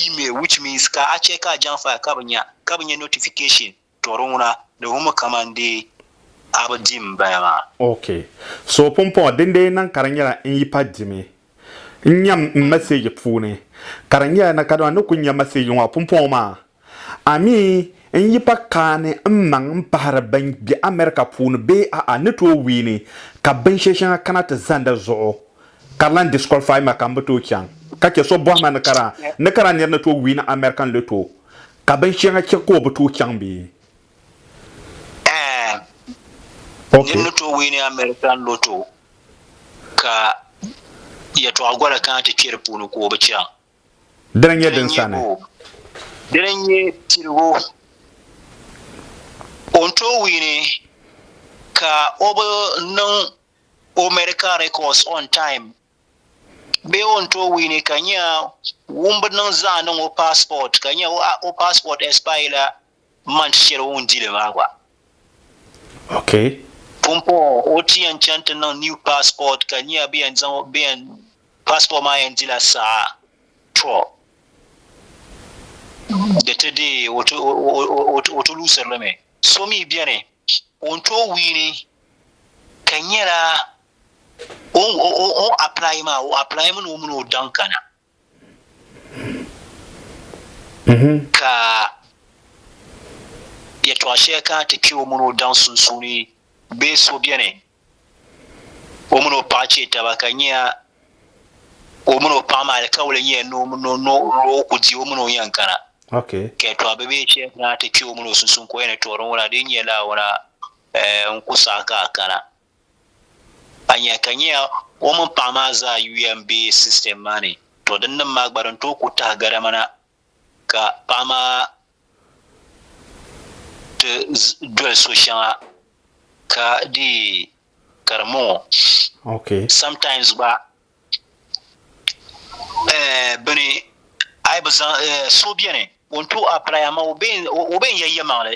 email which means ka a chɛ ka a jaŋ faya ka bɛ nya ka bɛ nya notification tɔ di ŋuna di wummi kaman dee a bi di m-bala maa. Ok. So pumpɔŋɔ din dee niŋ ka di nyɛla n yi pa dimi n-nyam n message puuni ka di nyɛla na kadama ni ku nya message ŋɔ pumpɔŋɔ maa A mi n yi pa kaani n maŋ n pahiri bɛn be America puuni bee a'a ni tooi wiini ka binshɛli shɛŋa kana ti zanda zuɣu ka di lan disqualify ma ka m bi tooi chaŋ ka chɛ so bɔhi ma ni ka daa ni ka daa nir ni tooi wiini American Lotto ka binshɛŋa chɛ ka o bi tooi chaŋ bee? Ɛɛn. Nir ni tooi wiini American Lotto ka yɛtɔɣa gola kana ti kpe di puuni ka o bi chaŋ. Dini n-nyɛ din sani. Dini n-nyɛ piligu. O ni tooi wiini ka o bi niŋ o medical records on time bee o ni tooi wiini ka nya ŋun bi niŋ zaa niŋ o passport ka nya o passport expire la M ma nti chɛri o ŋun di li maa gba. Okay. Pumpɔŋɔ o ti yɛn chani ti niŋ new passport ka nyɛya bɛ yɛn zaŋ bɛ yɛn passport maa yɛn dila saha tɔ di ti deei o ti o ti luusiri li mi. So mi beni o ni tooi wiini ka nyɛla o o o apply maa o apply mi ni o mini o daŋ kana. Ka yɛtɔɣ shɛli kana ti kpe o mini o daŋ sunsuuni bee so beni o mini o paɣ chɛ taba ka nya o mini o paɣ maa alikauli nya ni o ku di o mini o yɛn kana. Ka yɛtɔɣ bibihi shɛli kana ti kpe o mini o sunsuuni ka o yɛn ni tuɣiri n-ŋuna di nyɛla ŋuna n-ku saɣi ka a kana. a nya ka nya o mini paɣa maa zaa yuya m-be system maa ni, to din nim maa gba din tooi ku tahi gari ma na ka paɣa maa ti doli so shɛŋa ka dii ka di mɔŋɔ. Okay. Sometimes gba eh bini a yi bi zaŋ eh so beni o ni tooi apply amaa o be o be n-ya yɛlimaŋli.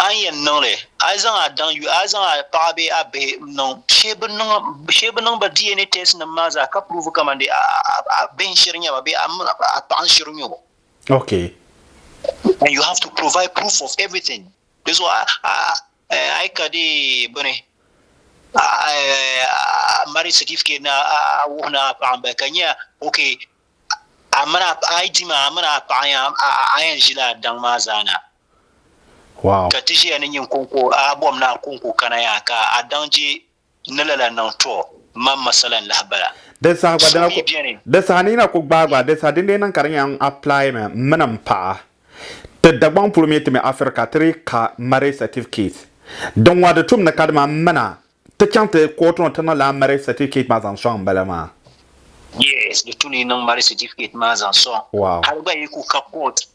A ni yɛn niŋ li, a yi zaŋ a daŋ yuya, a yi zaŋ a paɣa bee a bihi niŋ shee bi niŋ ba DNA test nim maa zaa ka prove kamani a bihi n shiri nyɛba bee a paɣa n shiri nyɛbo. Ok. And you have to provide proof of everything. Di zuɣu a yi ka dee bini marriage certificate ni a wuhi ni a paɣa n bala ka nyɛ ok a yi di maa a mini a paɣa a yɛn ʒila a daŋ maa zaa na. Ka ti ʒiya ni nyin kɔŋko a bɔm ni a kɔŋko kana ya ka a daŋ je ni lala niŋ tɔ man masala n lahi bala. Di saha gba dina ku di saha ni yina ku gbaai gba di saha din dee niŋ ka di nya n apply mi m mini m paɣa ti Dagbaŋ polo mi ti mi Africa ti di ka marriage certificate din ŋɔ di tum ni ka di ma m mina ti chaŋ ti court ŋɔ ti niŋ lala marriage certificate maa zaŋ sɔŋ m bala maa. Yes di tu ni yi niŋ marriage certificate maa zaŋ sɔŋ hali gba yi ku ka court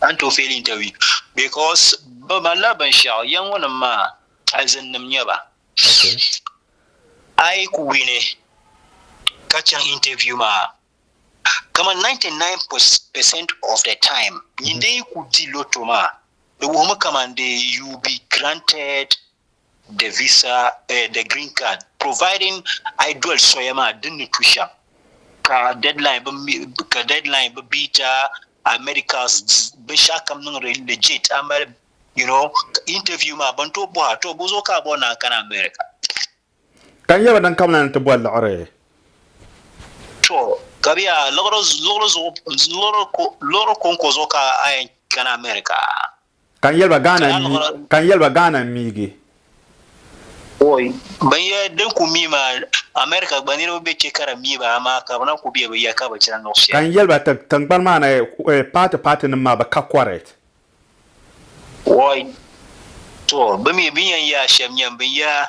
a ni tooi feeli interview because bɛ malila binshɛɣu ya ŋɔ nim maa alizin nim nyɛ ba a yi ku wini ka chaŋ interview maa kama 99% of the time nyin din yi ku di loto maa di wuhimi kaman dee you be granted The visa, eh, the green card, providing ayi doli soya maa din ni tu shɛm ka deadline bi mi ka deadline bi beat a a medicals binshɛɣu kam niŋdi legit a mali you know interview maa ban tooi bɔha to bo zuɣu ka a bɔri ni a kana America. Ka n yɛba din kam na ni ti boli liɣiri. To ka bɛ yaa liɣiri liɣiri zuɣu liɣiri ko liɣiri konko zuɣu ka a yɛn kana America. Ka n yɛliba Ghana n mi, ka n yɛliba Ghana n miigi. Oi, bin ya din ku mi maa, America gba niriba be che ka di mi ba amaa ka bi na ku be bi ya ka bi chana niŋ shɛli. Ka n yɛliba ti, tiŋgbani maa ni paati paati nim maa bi ka correct. Oi, to, bi mi bin yan ya shɛm nyam bin ya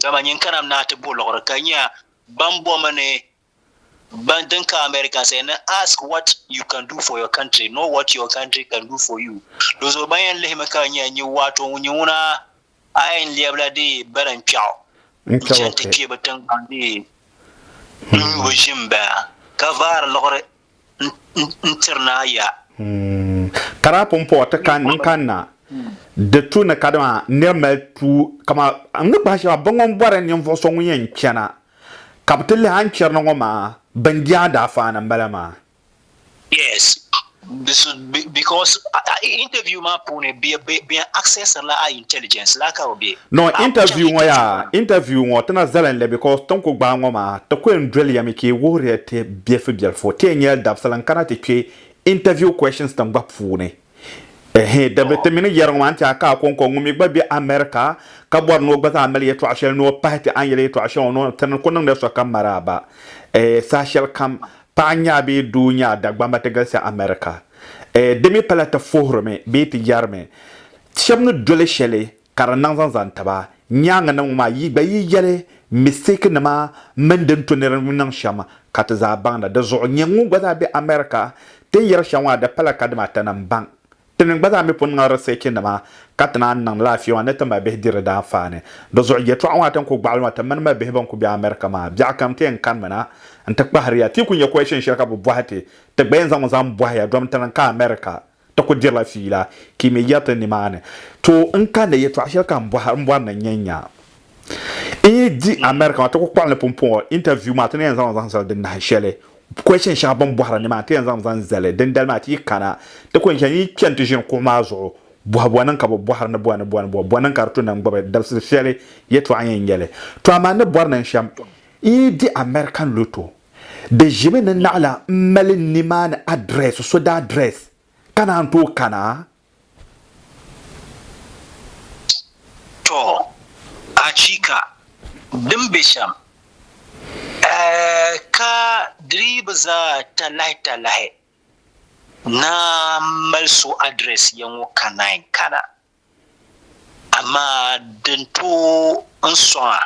Dama nyin kana naa ti bo liɣiri ka nya ban bomi ni ban din ka America said ni ask what you can do for your country, not what your country can do for you. Di zuɣu ban yɛn lihimi ka nya nyin waato ŋun nyɛ ŋuna a yɛn lɛbila di bala n-kpiɛɣu n-chani ti kpee bi tiŋgbani di n-nyu bi ʒim bala ka vaari liɣiri n tiri naa ya. Ka daa pun puɣi ti kan n kanna di tu ni kadama nir mali tu kama n ni kpahi shɛba bɛ ŋun bɔri ninvuɣ so ŋun yɛn chana ka bɛ ti lihi a ni chirina ŋɔ maa bɛn je a daafaa ni m-bala maa. Yes, because interview maa puuni bɛ access la a intelligence la ka bɛ no interview ŋɔ yaa interview ŋɔ tina zalin le because tin ku gbaai ŋɔ maa ti ku yɛn doli ya mi ka yi wuhiriya ti biɛlifu biɛlifu ti yɛn nyɛla dabisili n kana ti kpe interview questions tin gba puuni ɛhɛn di bi ti mini yɛri ŋɔ maa n ti a ka Akonkwo ŋun mi gba be America ka bɔri ni o gba zaa mali yɛtɔɣa shɛli ni o pahi ti a ni yɛli yɛtɔɣa shɛŋa ŋɔ tini ku niŋdila sokam maraaba saha shɛli kam Paɣa nyaa bee doo nyaa Dagbamba ti galisi America. Eh, di mi pala ti fuhiri mi bee ti yɛri mi, shɛba ni doli shɛli ka di niŋ zaŋ zaŋ tiba. Nyaaŋa nim ŋɔ maa, yi gba yi yɛli mistake nima mini din to ni di ni niŋ shɛm ka ti zaa baŋda. Di zuɣu, nyɛ ŋun gba zaa be America ti ni yɛri shɛm ŋɔ maa di pala ka dama ata ni m-baŋ Ti mini gba zaa mi pun niŋ riseechinima ka ti naan niŋ laafee maa ni ti ma bihi diri daanfaani. Di zuɣu yɛtɔɣa ŋɔ a ti ni ku gbaɣili ŋɔ ti mini ma bihi bɛn ku be America maa, biɛɣu kam ti yɛn kanimi na n-ti kpahiri ya. Ti yi ku nya question shɛli ka bɛ bɔhi ti, ti gba yɛn zaŋmi zaŋ bɔhi ya domi ti lan ka America ti ku dirila fiila ka yi mi yɛri ti nimaani. Too, n kanda yɛtɔɣa shɛli ka m bɔri ni n yɛn nya n yi di America maa ti ku kpuɣili ni pumpɔŋɔ interview maa ti ni yɛn zaŋmi zaŋ zali di nahinshɛli question shɛŋa bini bɔhiri ni maa ti yɛn zaŋ zaŋ zali dindali maa ti yi kana ti kuli chani yi chani ti ʒini kuɣu maa zuɣu bɔhi bɔ niŋ ka bi bɔhiri ni bɔ ni bɔ ni bɔ bɔ niŋ ka di tu ni n gbubi dabisili shɛli yɛtɔɣa yɛn nyɛli to amaa ni bɔri niŋ shɛm n yi di American loto di ʒimi ni naɣila m mali ni maa ni address so daa address ka naan tooi kana To, achiika! Din be shɛm, ka di dii bi zaa talahitalahi naan mali so address ya ŋɔ ka naayi kana, amaa din tooi n sɔŋ a,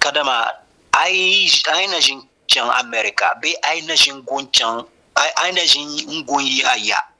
kadama a yi na ʒini chaŋ America bee a yi na ʒini gun yi a ya,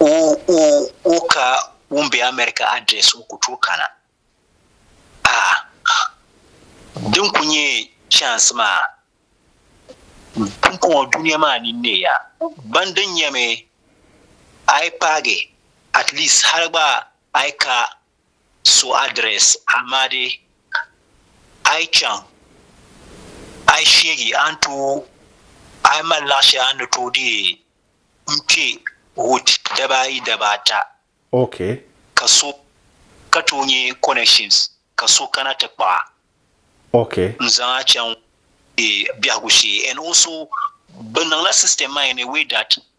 O ka ŋun be America address o ku tooi kana. Ah, din ku nyɛ chance maa pumpɔŋɔ dunia maa ni ne ya. Ban din nyɛmi a yi paagi at least hali gba a yi ka so address amaa dee a yi chaŋ a yi sheegi a ni tooi a yi mali laɣ shɛli a ni tooi dee n-kpe wood daba ayi daba ata Okay. ka so ka tooi nyɛ connections ka so kana ti kpuɣa Okay. n-zaŋ a chaŋ eh, biɛhigu shee and also bɛ niŋla system maa in a way that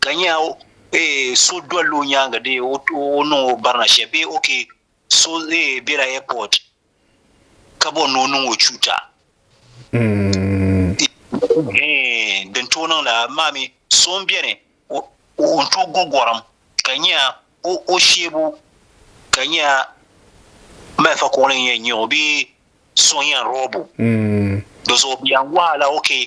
ka nya so dol o nyaaŋa dee o niŋ o barina shɛli bee ok so bela airport ka bɔri ni o niŋ o chuuta hee din tooi niŋ la maa mi so m-beni o n-tooi go gɔrim ka nya o sheebu ka nya malifa kuɣili n-yɛn nya o bee so n-yɛn rob o di zuɣu bɛ yɛn wahala ok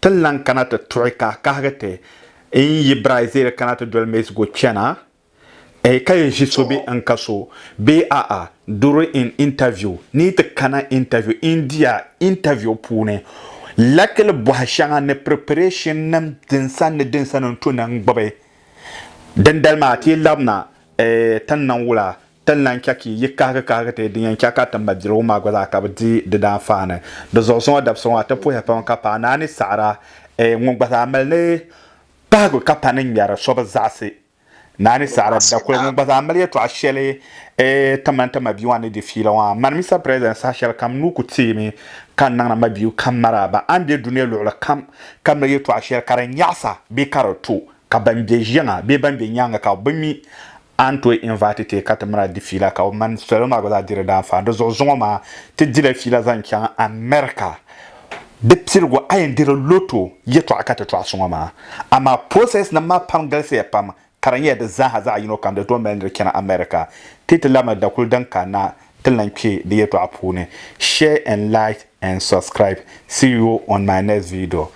Ti ni lan kana ti tuɣi ka a kahigi ti, N yi bira Izayɛl kana ti doli Mɛsigu chana? Ɛɛ ka yi ʒi so bee N ka so? Bee a'a, during in interview, ni yi ti kana interview, India interview puuni, lakili bɔha shɛŋa ni preparation nim din sani ni din sani n-tu ni n gbubi. Dindali maa, ti yi labina, ɛɛ, ti ni niŋ wula? Ti ni lan chɛ ka yi kahigi kahigi ti din yɛn chɛ ka ti mali biligu maa gba zaa ka bɛ di di daanfaani. Di zuɣu zuŋɔ dabisɔŋɔ a ti puhi pam ka paai naani saɣira eeh ŋun gba zaa mali ni pahigu ka pa ni ŋmɛri so bi zaɣisi naani saɣira dakuli ŋun gba zaa mali yɛtɔɣa shɛli eeh ti mani ti mabia maa ni di fiila ŋɔ a mani Mister President saha shɛli kam n nuu ku teemi ka n niŋdi mabia kam maraaba a ni be dunia luɣili kam ka mali yɛtɔɣa shɛli ka di nyaɣisa bee ka di to ka ban be yiŋa bee ban be nyaaŋa ka bɛ mi A ni tooi invite ti ka ti mini a di fiila ka o mani salo maa gba zaa di di daanfaan. Di zuɣu zuŋɔ maa ti dila fiila zaŋ chaŋ America. Di piligu a yɛn diri lotto yɛtɔɣa ka ti tɔɣi so ŋɔ maa. Amaa process nim maa pam galisiya pam ka di nyɛla di zaaha zaɣi yino kam di tooi mali ni di chana America. Ti ti labina dakuli din kanna ti lan kpe di yɛtɔɣa puuni. Share and like and subscribe. See you on my next video.